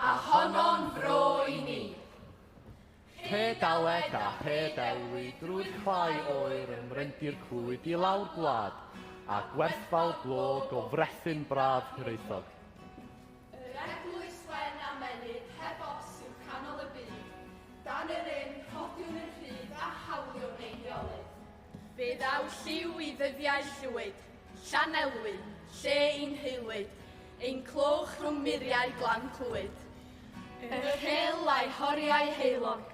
A honno'n fro i ni. Pe daled a pe delwi drwy'r clai oer yn mrendir clwyd i lawr gwlad, a gwerthfawr glo go frethyn braf Hiraethog. Yr eglwys wen a menyd heb os yw canol y byd, dan yr ynn rhodiwn yn rhydd a hawliwn ein rheolydd. Fe ddaw lliw i ddyddiau Llwyd, Llanelwy, lle i'n heulwyd, ein clywch rhwng muriau glan Clwyd. Yr hel a'i horiau heulog,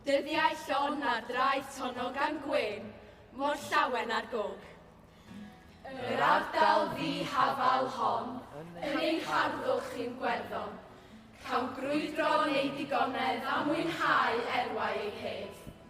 dyddiau llon ar draeth tonog gan gwên, mor llawen ar gog. Yr ardal ddi-hafal hon, yn ein harddwch chi'n gwerddon, cawn grwydro yn ei digonedd a mwynhau erwau ei hedd.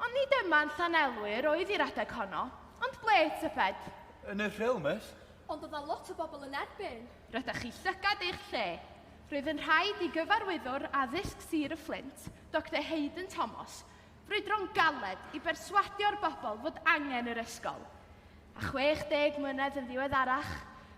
Ond nid yma yn Llanelwy yr oedd i'r adeg honno, ond ble, tybed? Yn y Rhyl, miss. Ond oedd 'na lot o bobl yn erbyn. Rydach chi llygad eich lle. Roedd yn rhaid i Gyfarwyddwr Addysg Sir y Fflint, Doctor Haydn Thomas, frwydro'n galed i berswadio'r bobl fod angen yr ysgol. A 60 mlynedd yn ddiweddarach,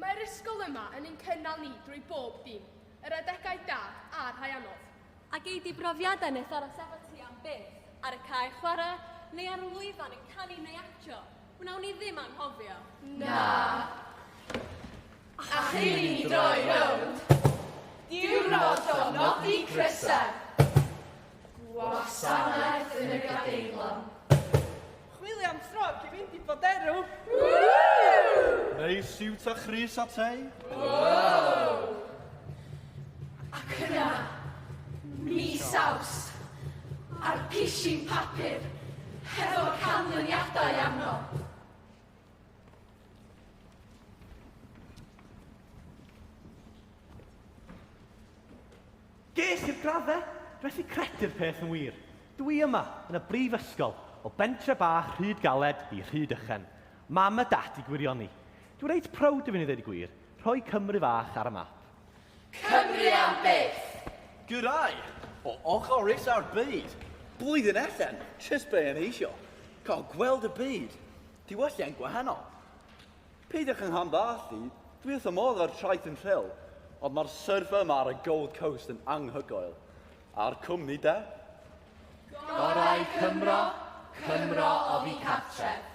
Mae'r ysgol yma yn ein cynnal ni drwy bob dim, yr adegau da a'r rhai anodd. A gei di brofiadau nes aros efo ti am byth, ar y cae chwarae, neu ar y lwyfan yn canu neu actio. Wnawn ni ddim anghofio. Na. A chyn i ni droi rownd, diwrnod o nodi crysau. Gwasanaeth yn y Gadeirlan. Chwilio am tro cyn mynd i Boderw. Neu siwt a chrys a tei. Wow! Ac yna, mis aws, a'r pishin papur, hefo'r canlyniadau arno. Ges i'r graddau, gwnes i gredu'r peth yn wir. Dw i yma, yn y brifysgol, o bentre bach Rhyd Galed i Rhyd Ychen. Mam a Dad i gwirioni. Dw i reit prowd o fyn' i ddeud y gwir, rhoi Cymru fach ar y map. Cymru am byth! Gyrraedd o ochr isa'r byd. Blwyddyn allan, jyst be' o'n i isio. Cael gweld y byd. Diwylliant gwahanol. Peidiwch yn rhanbarthu, dwi wrth fy modd â'r traeth yn Rhyl, ond mae'r surf yma ar y Gold Coast yn anghygoel. A'r cwmni de? Gorau Cymro, Cymro oddi cartref.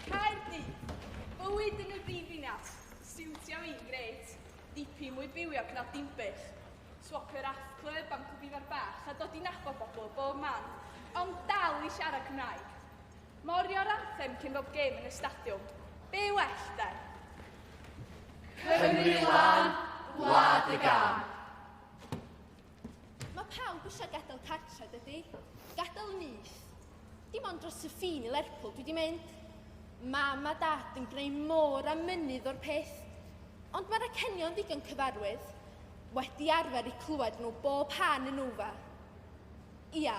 Caerdydd, bywyd yn y brifddinas, stiwtio i'n gret, dipyn mwy bywiog na Dinbych. Swopio'r Ath Club am cwbifa'r bach a dod i nabod bobl o bob man, ond dal i siarad Cymraeg. Morio'r anthem cyn bob gêm yn y stadiwm. Be well de? Cymru lan, gwlad y gam. Mae pawb eisiau gadael cartre, dydy? Gadael nyth. Dim ond dros y ffin i Lerpwl dwi wedi mynd. Mam a dad yn gwneud môr a mynydd o'r peth. Ond mae'r acenion ddigon cyfarwydd. Wedi arfer i clywed nhw bob pan yn ufa. Ia,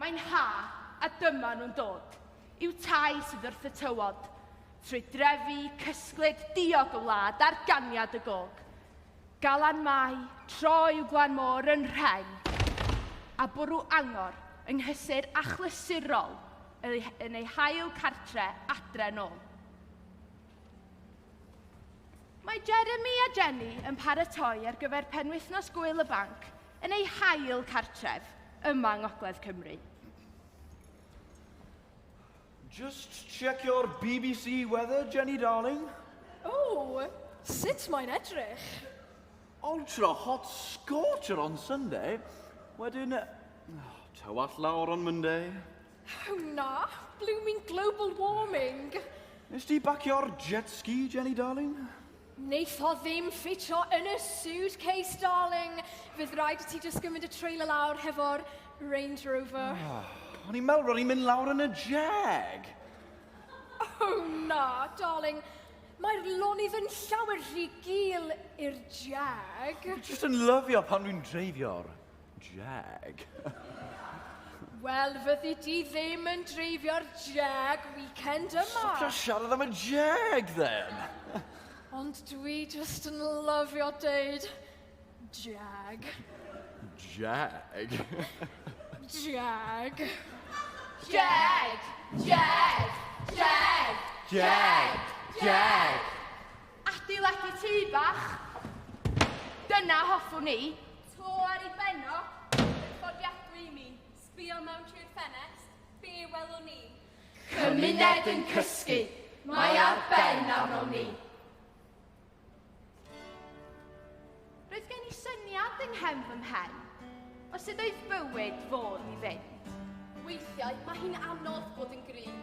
Mae'n ha, a dyma nhw'n dod i'w tai sydd wrth y tywod, trwy drefi cysglyd diog y wlad ar ganiad y gog. Galan mai, tro i'w glan môr yn rheng, a bwrw angor yng nghysur achlysurol yn ei hail cartre adre nôl. Mae Jeremy a Jenny yn paratoi ar gyfer penwythnos Gwyl y Banc yn eu hail cartref yma yng Ngogledd Cymru. Just check your BBC weather, Jenny darling. Oh, sut mae'n edrych? Ultra hot scorcher on Sunday, wedyn oh, tywall lawr on Monday. Oh na, blooming global warming! Nes di bacio'r jet ski, Jenny darling? Neith o ddim ffitio yn y suitcase, darling. Fydd rhaid i ti just gymryd y trailer lawr hefo'r Range Rover. Oh, o'n i'n meddwl ro'n i'n mynd lawr yn y jag. Oh na, darling. Mae'r lonydd yn llawer rhy gul i'r jag. Just yn lyfio pan dwi'n dreifio'r Jag. Wel, fyddi di ddim yn dreifio'r jag weekend yma. Stopio siarad am y jag, then! Ond dwi just yn lyfio deud jag. Jag. Jag. Jag! Jag! Jag! Jag! Jag! Adeiladu tŷ bach. Dyna hoffwn i. To ar ei ben o, yn fforddiadwy i mi, sbio mewn trwy'r ffenest, be welwn ni? Cymuned yn cysgu, mae ar ben arno ni. Roedd gen i syniad yng nghefn fy mhen, o sut oedd bywyd fod i fynd. Weithiau mae hi'n anodd bod yn gryf,